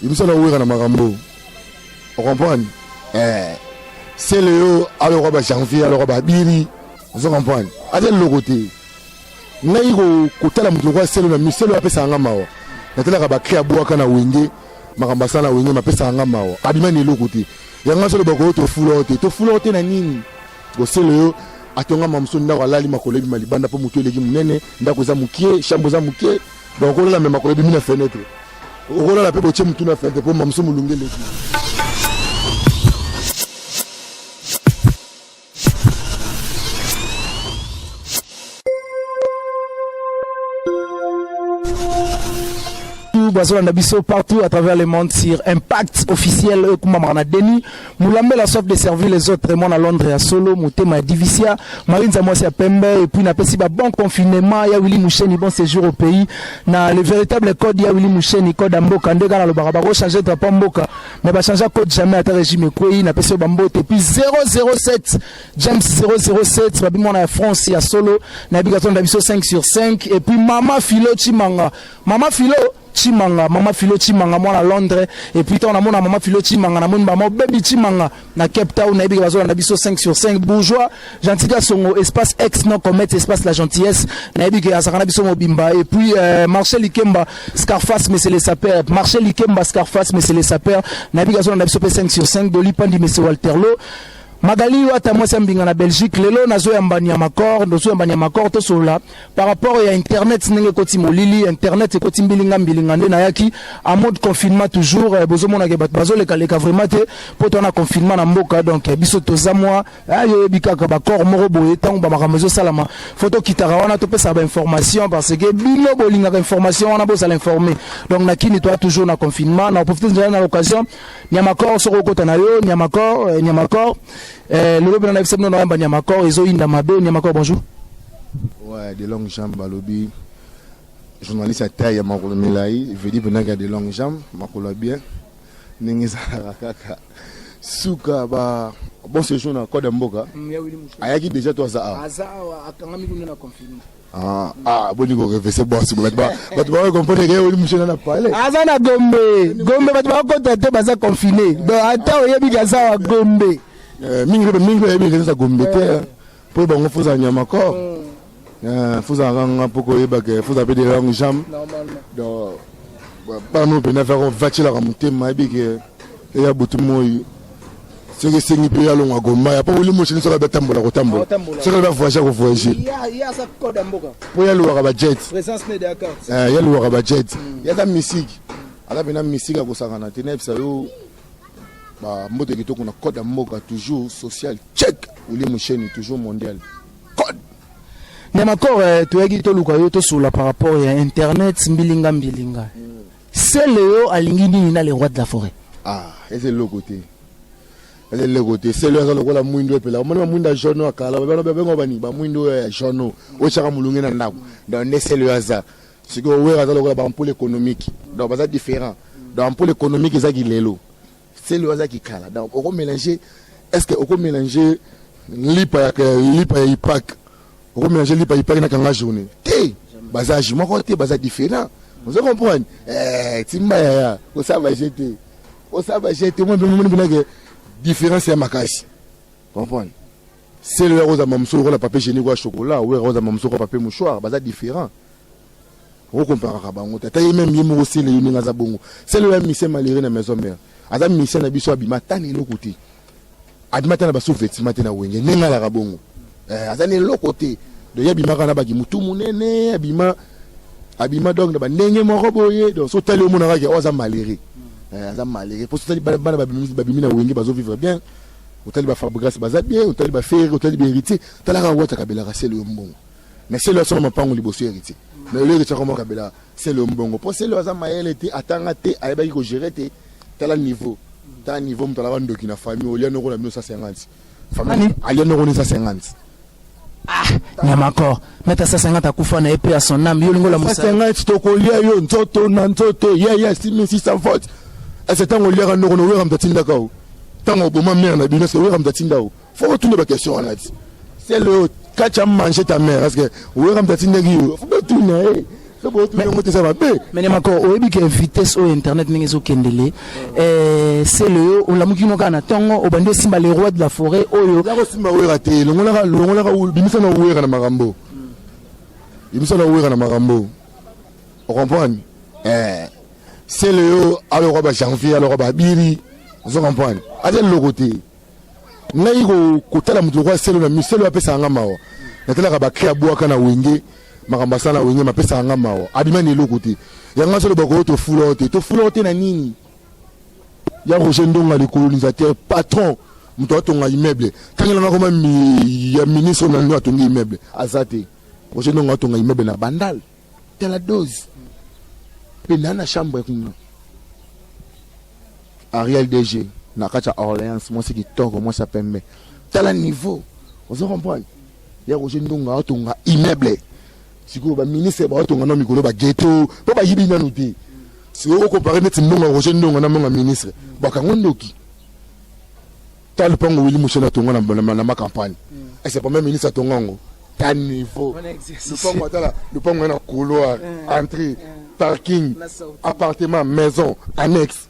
Ibisa na wera na makambo. O comprendre? Eh. C'est Léo, alors on va janvier, alors on va biri. Vous comprenez? Allez le côté. ngai kotala moto lokola selo na miselo apesaka nga mawa natalaka bakri abwaka na wenge makambo asala na wenge mapesaka nga mawa abima na eloko te yango aso loba koyo tofula yo te tofula yo te na nini oselo yo atongama mosusu ndako alali makolo ebima libanda mpo motu eleki monene ndako eza moke shambo eza moke Donc okolala me makolo ebimi na fenetre, okolala mpe botie motu na fenetre mpo mamuso molunge eleki. bazolanda biso partout à travers le monde sur impact officiel oyo ekumbamaka na deni Mulambela soif de servir les autres mwana Londres ya solo motema ya divisia marinza mwasi ya pembe et puis napesi ba bon confinement ya Willy Musheni bon séjour au pays na le véritable code ya Willy Musheni code ya mboka nde kaka nalobaka bako changer drapeau mboka mais ba changer code jamais ata régime ekwei napesi yo ba mbote et puis 007 James 007 babi mwana ya France ya solo nayebi katonda biso 5 sur 5 et puis mama Philo Chimanga Mama Philo Tshimanga, Mama Philo Tshimanga, moi na Londres, et puis tant na mona Mama Philo Tshimanga, na moni Mama Baby Tshimanga, na Cape Town, na yebi bazo na biso 5 sur 5, bourgeois, gentil songo, espace ex, non comète, espace la gentillesse, na yebi que azaka na biso mobimba, et puis euh, Marcel Ikemba, Scarface, mais c'est les sapeurs, Marcel Ikemba, Scarface, mais c'est les sapeurs, na yebi bazo na biso 5 sur 5, Doli Pandi, mais c'est Walter Lowe, magali yo ata mwasi ya mbinga na belgique lelo nazoyamba nyama cor ndozoyamba nyama cor tosolola par rapport ya internet ndenge ekoti molili internet ekoti mbilinga mbilinga nde nayaki en mode confinement toujours eh, bozomonake bato bazolekaleka vraiment te mpo towana confinement na mboka donc eh, biso toza mwa ah, yo oyebi kaka bacor moko boye ntango bamakambo ezosalama fo tokitaka wana topesaka bainformation parce que bino bolingaka information wana bozala informe donc na kini toya toujours na confinement na profite nzela na l'occasion niamacor soki okota na yo niamacor eh, niamacor lelo bino na yebisa bino na yamba niamacor ezoyinda mabe niamacor bonjour Ouais, de longue jambe balobi journaliste ya taille ya makolo milai vedi mpendaki ya de longue jambe makolo ya bien ndenge ezalaka kaka suka ba bon séjour na code ya mboka ayaki déjà to aza awa Ah, ah, boni ko refese bosi bato baoyo comprendre ke oli moshe na pale aza na gombe gombe bato bakota te baza confine donc ata oyebi ke aza wa gombe eh, mingi mingi oyebi ke eza gombe te eh. Pour bango faut za nyama corps. Mm. Euh, faut za nganga pour ko yeba que faut appeler des langues jam. Normalement. Donc bah, pas nous pena faire vati la mutema ebi que il y a beaucoup de moyi. soki esengi mpe ya longo agoma ya mpo oli moshini soki abatambola kotambola soki aza voyage ya kovoyage mpo ya lowaka bajet ya lowaka bajet ya aza misiki aza mpe na misiki akosangana te nayebisa yo Ba mbote kitoko na code ya mboka toujours social check Willy Musheni toujours mondial code Nyamakoro eh, toyaki toluka yo tosolola par rapport ya internet mbilinga mbilinga sele yo alingi nini na le roi de la forêt ah eza eloko te eza eloko te sele aza lokola mwindo epela omoni bamwindo ya jaune oyo akala babengo bani bamwindo oyo ya jaune oyo otyaka molunge na ndako donc nde sele oyo aza sikoyo wera aza lokola baampole économique donc baza différent donc ampole économique eza kilelo selo aza kikala donc oko mélange est ce que oko mélange lipa ya lipa ya ipak oko mélange lipa ya ipak na kanga journée te baza age moko te baza différent ozo comprendre eh, timba yaya osaba je te osaba je te omoi mpe momoni mpenake différence ya makasi comprendre selo ya kozamba mosolo lokola papier hygiénique wa chocolat oyo akozamba mosolo kwa papier mouchoir baza différent okomparaka bango te ata ye meme ye moko sele ye ndenge aza bongo sele oyo amise malere na maison mère aza mise na biso abima ata na eloko te abima ata na basu vetima te na wenge ndenge alaka bongo eh, aza na eloko te donc ye abimaka na baki motu monene abima abima donc na bandenge moko boye donc so otali omonaka ke oyo oh, aza malere eh, aza malere mpo sotali bana babimi na wenge bazo vivre bien otali ba Fabregas baza bien otali ba Ferre otali ba Heritier tala kaka Wata Kabela ka selo yo mbongo mais selo asoma mapango liboso Heritier mais lelo Heritier akoma Kabela selo yo mbongo po selo aza mayele te atanga te ayebaki ko gérer te tala niveau tala niveau moto alaba ndoki na famille olia noko na bino 150 famille alia noko ne 150 Nyamakor meta asasa nga takufa na ye pe ya son âme yo lingo la musa nga tokolia yo nzoto na nzoto ya ya simi si sans faute ese tango oliaka ndoko no wera mtatinda kao tango oboma mère na bino se wera mtatinda o faut otuna ba question wana ti c'est le quand tu as mangé ta mère parce que wera mtatinda ki yo faut otuna eh mene mako oyebi ke vitesse oyo internet ndenge ezokendele eh, sele yo olamuki no kaka na ntongo obandi osimba le roi de la forêt oyo osimba wera te longolaka longolaka bimisa na wera na makambo bimisa na wera na makambo ocomprendre eh, sele yo alokwa bajanvier alokwa babiri ozo comprendre aza eloko te ngai kotala moto lokola selo na miselo apesaka nga mawa natalaka bakri abwaka na wenge makambo asala na wenge mapesaka nga mawa abima na eloko te yango azoloba koyo tofula yo te tofula yo te na nini ya roger ndonga likolonisateur patron moto atonga immeuble tangela nga koma ya ministre na nino atongi immeuble aza te roger ndonga atonga immeuble na bandal tala dose mpe na na chambre kuna ariel dg na kati ya orleans mwasi kitoko mwasi ya pembe tala niveau ozo comprendre ya roje ndonga atonga immeuble sikoyo baministre baotonga na mikolo bageto mpo bayibi nanu te sikoyo okompare neti mbongo ya roje ndonga na mbongo ya ministre bakango ndoki Tala lupango Willy Musheni atonga na, na, na makampagne mm. ese premier ministre atonga yango ta niveau lupango atala lupango ya na couloir mm. entrée mm. parking appartement maison annexe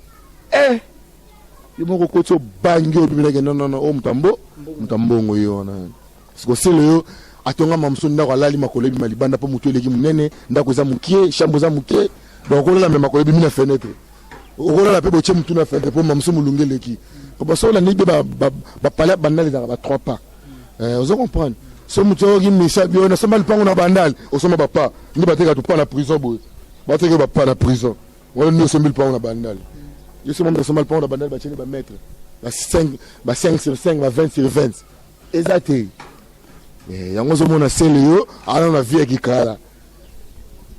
eh yo moko okoti obangi obimelaki non non non oyo oh, moto ya mbo moto ya mbongo ye wana sikosele yo atonga mamuso ndako alali makolo ebima libanda mpo motu eleki monene ndako eza mokie shambo eza mokie donc okolala me makolo ebimi na fenetre okolala mpe botie motu na fenetre mpo mamuso molunge eleki basoki olandi mpe bapale ya bandal ezalaka ba trois pas eh, ozo comprendre so motu ayoki misa bio nasomba lipango na bandal osomba bapa nde bateka topa na prison boye bateke bapa na prison wana nde osombi lipango na bandal yo soma mpe osomba lipango na bandal batieni bamètre ba 5 sur 5 ba 20 sur 20 eza te eh, yango ozomona sele yo ana na vie ya kikala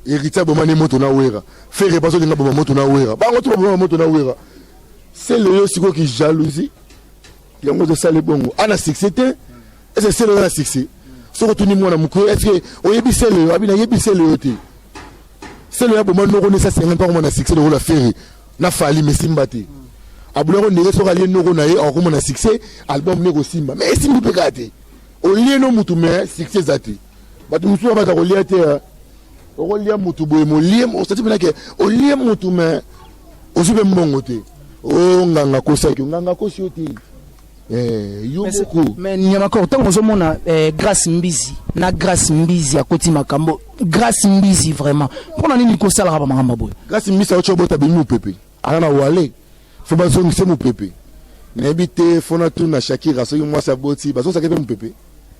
héritier abomani moto na wera fere baso linga boma moto na wera bango to baboma moto na wera sele yo sikoyo ki jalousie yango ozosala ebongo ana succès te ese sele yo na succès soki otuni mwana mokoyo estce oyebi sele yo abi nayebi sele yo te sele yo aboma noko nesa senga mpa komona succès lokola fere na fali mais simba te abula ko ndenge soka liye noko na ye akokoma na succès album ne kosimba mais esimbi mpe kaka te olie no mutu mais succès eza te bato mosusu ba baza kolia te hein. okolia mutu boye molie osati mpenza ke olie mutu mais ozwi mpe mbongo te o oh, nganga kosaki nganga kosi yo te Eh, yo moko mais nyamakoro ntango ozomona eh, grace mbizi na grace mbizi akoti makambo grace mbizi vraiment mpo na nini kosalaka bamakambo boye grace mbizi aoki obota bimi mopepe aza na wale fo bazongise mopepe nayebi te fona tuna shakira soki mwasi aboti bazosaka mpe mopepe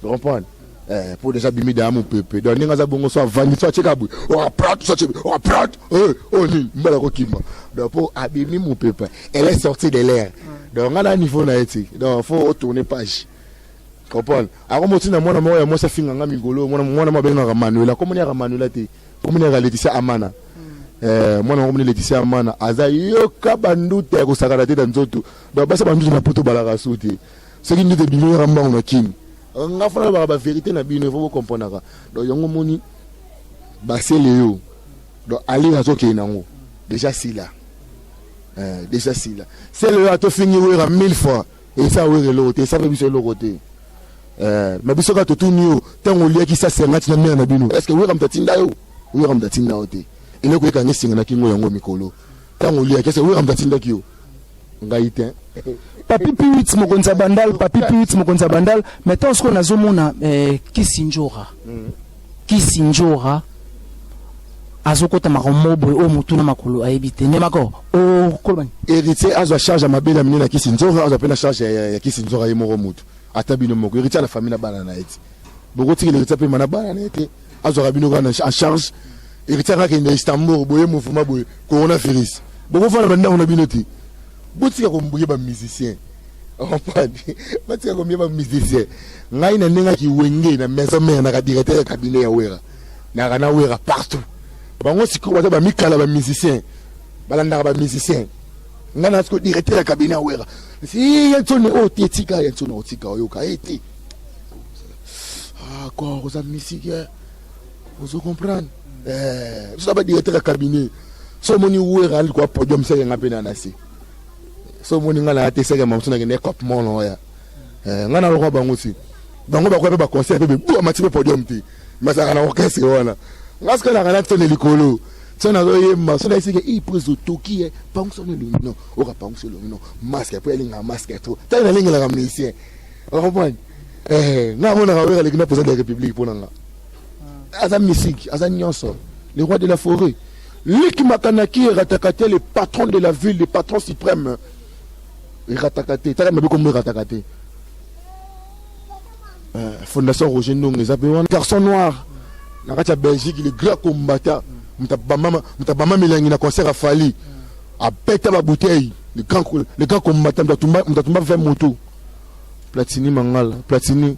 Tu comprends? Eh, po deja bimi daya mopepe donc ndenge aza bongo so avandi so atyeka boye oaprate oh, so atye oaprate oh, oyo eh, oh, nini mbala kokima donc po abimi mopepe elle est sortie de l'air donc nga na niveau na ye ti donc fo otourne page comprendre ako moti na mwana moko ya mwasi afinga nga migolo mwana mwana mo abengaka manuela komoni yaka manuela te komoni yaka leticia amana hmm. eh, mwana moko moni leticia amana aza yoka banduta ya kosakana te na nzoto donc basi banduta na poto balaka su te soki ndoto ebimi yaka mbangu na kin nga fana nalobaka baverité na bino efo bokomprenaka donc yango omoni basele yo donc ali azokende nango deja sila eh, deja sila sele oyo atofingi wera mille fois esa wera eloko te esa mpe biso eloko te eh, ma biso kaka totuni yo ntango oliaki sa sengati na mare na bino estce wera moto atinda yo wera moto atinda yo te eloko ekanga esenga na kingo yango mikolo ntango oliaki estce wera moto atindaki yo ngai te papi piwit mokonzi ya bandal papi piwit mokonzi ya bandal mais ntango sikoyo nazomona eh, kisinjora mm. kisinjora azokota makambo moko boye oyo motu na makolo ayebi te nde mako okolobani oh, héritier azwa charge ya mabele ya minene ya kisinjora azwa mpe na charge ya kisinjora ye moko motu ata bino moko héritier na famille na bana na ye te bokotikela héritier mpe mana bana na ye te azwaka bino kaka en charge héritier kaka kende istanbul boye mouvement boye corona virus bokofana bandako na bino te botika kombuye bamusicien ompadi batika kombuye bamusicien ngai na ndenge akiwenge na maison mare naka directeur ya cabinet ya wera naka na wera partout bango sikoyo baza bamikala bamusicien balandaka bamusicien ngai na sikoyo directeur ya cabinet ya wera si ya nsoni oyo te tika ya nsoni otika oyoka ye te Ah, kor oza misiki eh. ozo comprendre eh, biso na badirecteur ya cabinet so omoni wera alikuwa podium seke nga mpe na nase so omoni nga naya te seke mamosu nakende cop mono oya eh, nga nalokwa bango si bango bakoya mpe baconseil mpe bebu amati mpe podium te masaka na orchestre wana nga sika naka natone likolo so nazoyemba so naisike i mpo ezotoki ye pangusa no elongi no okapangusa elongi no maske mpo elinga maske to ntango nalengelaka musicien okomprendre Eh, nga mona kawera leki na président de la république pona nga. Ah. Aza musique, aza nyonso. Le roi de la forêt. Leki makanaki eratakate le patron de la ville, le patron suprême. Eratakate, taka mabe kombo eratakate. Eh, fondation Roger Ndong eza pe wana. Garçon noir. Na kati ya Belgique, le grand combattant. Mutabama, mutabama milangi na concert à Fali. Abeta ba bouteilles. Le grand, le grand combattant, mutatuma, mutatuma 20 motos. Platini Mangala, Platini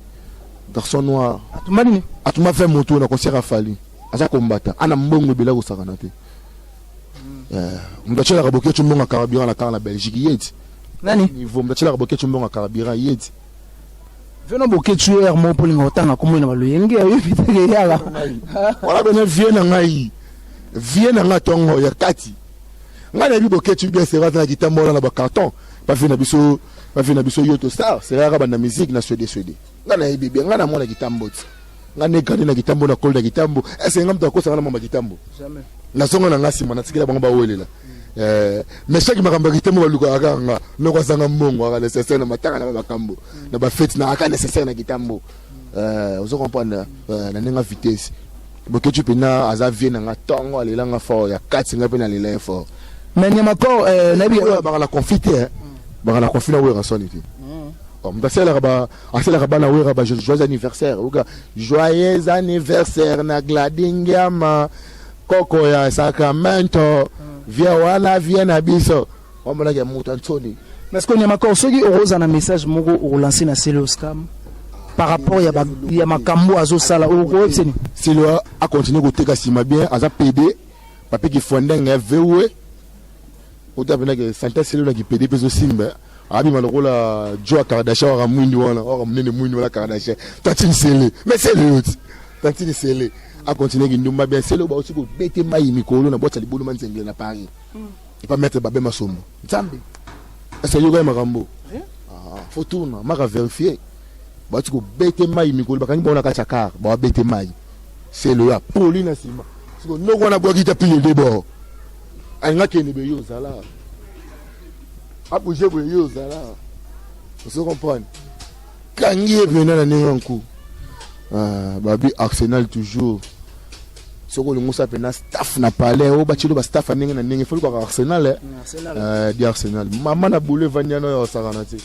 garçon noir. Atumba nini? Atumba 20 moto na concert ya Fally. Aza kombata. Ana mbongo ebele kosakana te. Eh, moto atyelaka boketshu mbongo ya carburant na kar na Belgique yeti. Nani? Niveau moto atyelaka boketshu mbongo ya carburant yeti. Veno boketshu ye yango mpo olinga kotanga nkombo ye na baloyenge oyebi te ke yala. Wana bene vie na ngai. Vie na ngai tongo ya kati. Ngai nayebi boketshu bien c'est vrai aza na kitambo wana na ba carton. Ba vie na biso Ba vie na biso yoto star c'est rare banda musique na swede swede. Nga na yebi bien nga na mwana kitambo ti. Nga ne grandi na kitambo na koli na kitambo. Est ce nga mtu akosa nga na mama kitambo? Jamais. Na zonga na nga sima na tikela bango ba welela. Eh, mais chaque makambo ya kitambo ba lukaka kaka nga. Noko azanga mbongo aka necessaire na matanga na makambo. Na ba fete na aka necessaire na kitambo. Eh, ozo comprendre? Eh, na nenga vitesse. Boketshu pena aza vie na nga tongo alela nga fort ya kati nga pe na lela ye fort mais nyama ko euh, nayebi oyo baka na conflit te hein. baka na conflit na wera soni te oh, moto asalelaka ba asalelaka bana wera ba joyeux anniversaire oka joyeux anniversaire na gladingiama koko ya sacramento vie wana vie na biso Wamonaki ya mutu ya nsoni. Mais sikoyo Niamakor soki okoza na message moko okolanse na Sele Oscar par rapport ya, ba, ya makambo azosala okoyebisa nini? Sele akontinue koteka nsima bien aza pede papi kifwandenge ya vewe ota mpenza ke sante sele na kipede mpe ezosimba abima lokola joa kardashian waka mwindu wana waka monene mwindu wana kardashian tantine sele mais sele yoti tantine sele akontinue kindumba bien sele bauti kobete mai mikolo na bwati ya libulu manzengele na paris mm. Epa maître Babin Masombo. Nzambe. Est-ce que yoga makambo? Hein? Ah, faut tourner, maka vérifier. Ba tu ko bete mai mikolo bakangi bona ka chakar, ba bete mai. C'est le ya poli na sima. Siko noko na bwaki ta pile de bord. Anga kende be yo zala. Abu je be yo zala. Vous comprenez? Kangi e pena na nengo nku. Ah, babi Arsenal toujours. soki olingi osala mpena staff na palais oyo batye ba staff ya ndenge na ndenge foli kaka arsenal eh. eh, di arsenal mama na boule evandi yana oyo asakana te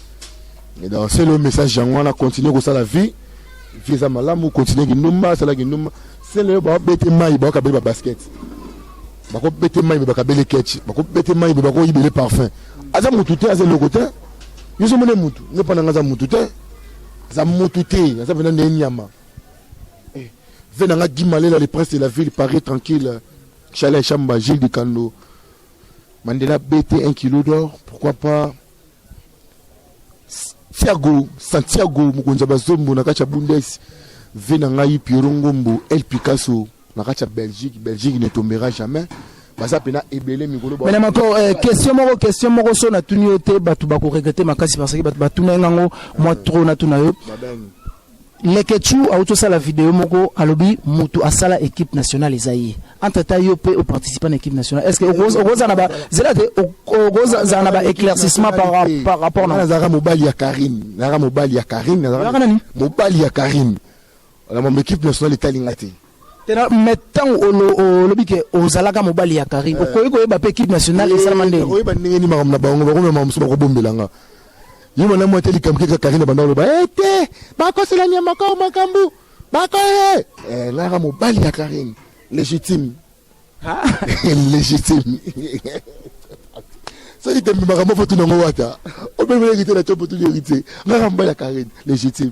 donc sele oyo message yango wana continue kosala vie vie eza malamu continue kindumba asala kindumba sele oyo babete mai bakabeli babasket bakobete mai mpe bakabeli ketch bakobete mai mpe bakoyibele parfum aza motu te aza eloko te yo somone motu nde mpo na ngai aza motu te aza motu te aza mpenza nde nyama Ve nanga Guy Malela le prince de la ville Paris tranquille Chalet Chamba Gilles Dikando Mandela BT 1 kilo d'or pourquoi pas Santiago Santiago mokonzi ya bazombo na kati ya Bundes Ve na ngai Pierrot Ngombo El Picasso na kati ya Belgique Belgique ne tombera jamais baza pena ebele mikolo ba mais mako eh, question moko question moko so na tuni yo te bato bako regretter makasi parce que bato batuna ngango moi eh. trop na tuna yo Leketchou auto sala vidéo moko alobi mutu asala équipe nationale eza ye entre temps yo pe oparticipe na équipe nationale est ce que okoza na ba zela te okoza za na ba éclaircissement par par rapport na nazaka mobali ya Karine nazaka mobali ya Karine nazaka nani mobali ya Karine Wala mambo equipe nationale etali nga te. Tena mais tango olobi ke ozalaka mobali ya Carine, eh. okoki koyeba pe équipe nationale esalama ndenge. Eh, oyeba ndenge ni makambo na bango, bakoma makambo mosusu bakobombela nga. Ye mwana mwa te likambo keka Carine banda oloba, eh te, bakosela nyama kao makambo, bakoye. Eh, naka mobali ya Carine, légitime. légitime soki tembe makambo fo tuna ngo wata obemeli héritier na copo tuni héritier ngaka mbala karine légitime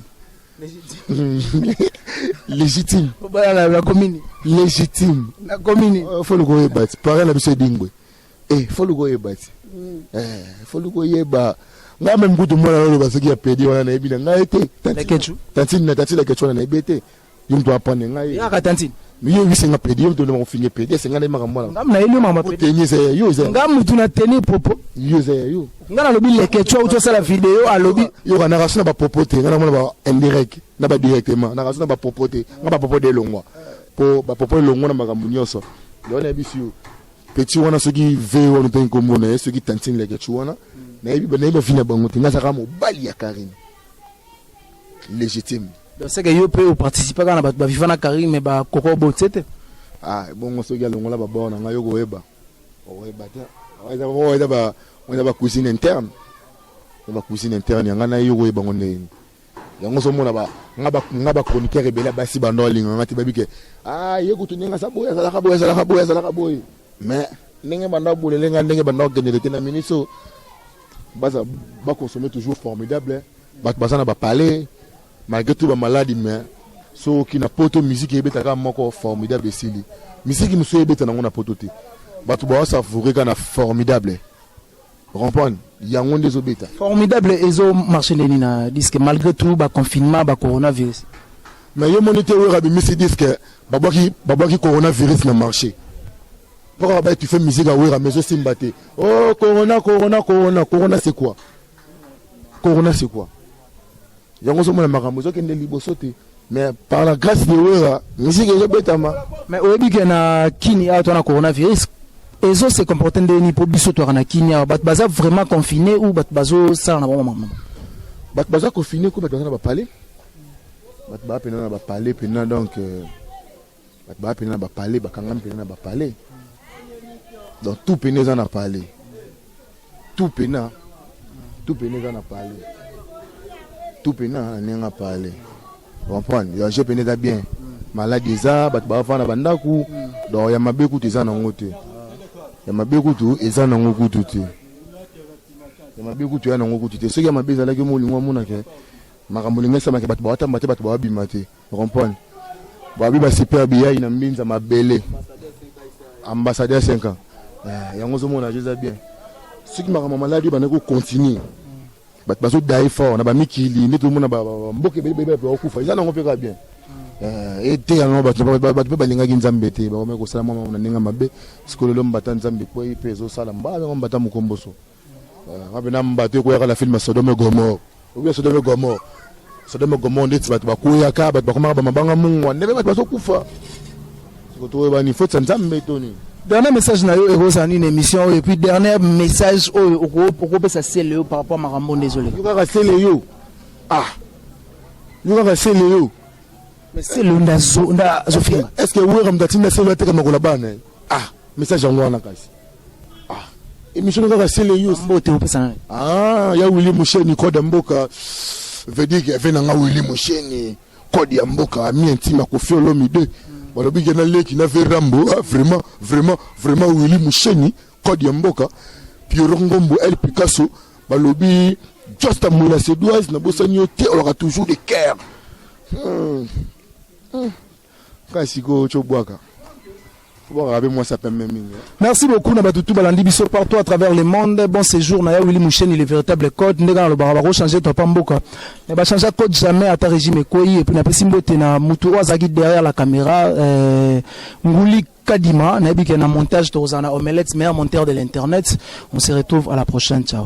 légitime obalana na komini légitime na komini euh, fo luka oyeba ti pare na biso edingwe e eh, fo luka oyeba ti mm. eh, fo luka oyeba ngai meme kutu mwana naloba soki ya pedi wana nayebi na ngai te tantine na tantine na kecu wana nayebi te yo mtu apane ngai yaka tantine yo oyebisi nga pede yo mtu olema kofinge pede ese nga nayeba makambo wana ngamu nayebi yo makambo pede teni eza ya yo eza nga mutu na teni popo yo eza ya yo nga nalobi leke tso uti osala video alobi yoka na rasu na bapopo te nga namona ba indirect na ba directement na rasu na bapopo te nga bapopo de elongwa mpo bapopo elongwa na makambo nyonso yango nayebisi yo peti wana soki ve wana mpe nkombo na ye soki tantine leke tso wana nayebi nayebi bavi na bango te nga azaka mobali ya karine légitime donc c'est que yo pe o participer kana ba viva na Karim mais ba koko bo tsete ah bongo soki alongola ba bord na ngai yo koyeba oyeba te oyeba oyeba ba oyeba ba cuisine interne ba cuisine interne yanga na yo koyeba ngo ndenge yango ozomona nga bachroniqueur ebele ya basi bando alinga nga te bayebi ke ah, ye kutu ndenge aza boye azalaka boye azalaka boye azalaka boye mais ndenge bando abolele nga ndenge bando akendele te na miniso Baza ba consommer toujours formidable. Bato baza na ba palais malgré tout ba malade mais soki na poto musique ebetaka moko formidable esili. Musique mosusu ebeta nango na poto te. Bato ba savoure ka na formidable. Rompon yango nde ezobeta. Formidable ezo marche ndeni na disque malgré tout ba confinement ba coronavirus. Mais yo moni te Werra bimisi disque babwaki babwaki coronavirus na marche. Pourquoi ba tu fais musique à Wera mais osimba te. Oh corona corona corona corona c'est quoi? Corona c'est quoi? Yango zo mona makambo zo kende liboso te. Mais par la grâce de Wera, musique ezo betama. Mais oyebi ke na kini awa to na coronavirus ezo se comporter ndenge nini po biso to na kini awa bato baza vraiment confiné ou bato bazo sala na bango mama. Bato baza confiné ko bato baza na ba palais. Bato ba pena na ba palais pena donc euh... Bato baya pene na ba palais, bakangami pene na ba palais. Donc tout pene eza na palais. Tout pena, tout pene eza na palais. Tout pena na ndenge ya palais. Vous comprenez? Ya je pene eza bien. Maladi eza, bato bafanda ba ndako. Donc ya mabe kutu eza nango te. Ya mabe kutu eza nango kutu te. Ya mabe kutu eza nango kutu te. Soki ya mabe ezalaki omo olingo omona ke makambo olingo esalama ke bato bawatamba te, bato bawabima te. Rompon. Babi ba super biyai na mbinza mabele. Ambassadeur 5 ans. Eh, yango zo mona jeza bien. Siki makambo maladi bana ko continuer. Bato bazo dai fort na ba mikili nde tomona ba mboka ebele bebe ba kufa. Eza nango pe ka bien. Eh, ete yango bato bato pe balingaki nzambe te bakomaki kosala mwa na ndenge mabe sikolelo mbata nzambe kwei mpe ezosala mbala yango mbata mokomboso Abena mbatu ekweyaka na film Sodome et Gomorrhe. Obi Sodome et Gomorrhe. Sodome et Gomorrhe ndeti batu bakweyaka, batu bakomaka ba mabanga mungwa, ndenge batu bazokufa. Siko toyebani foti ya Nzambe to nini? Dernier message na yo ekozala nini émission oyo et puis dernier message oyo okopesa Celeo par rapport makambo ndezole. Yo kaka Celeo. Ah. Yo kaka Celeo. Mais Celeo ndazo ndazo finga. Est-ce que Wera mtatinda Celeo ateka makola bana? Ah, message yango wana kasi. emission na kaka sele yo mbote opesa na ah ya Willy Musheni code mboka veut dire que vena nga Willy Musheni code ya mboka ami intime Koffi Olomide balobi ke na leki na ve Rambo ah, vraiment vraiment vraiment Willy Musheni code ya mboka Pierrot Ngombo El Picasso balobi just a moula sedoise na bosani yo te olaka toujours de cœur hmm. Hmm. Ngai sikoyo tso bwaka. Bwaka be mwasa pembe mingi. Eh. Merci beaucoup na batutu balandi biso partout à travers le monde. Bon séjour na ya Willy Moucheni le véritable code ndeka na lobaka bako changer toi pas mboka. Mais ba changer code jamais à ta régime ekoyi et puis na pesi mbote na mutu oyo azaki derrière la caméra euh, nguli kadima na yebike na montage tozana omelette meilleur monteur de l'internet. On se retrouve à la prochaine. Ciao.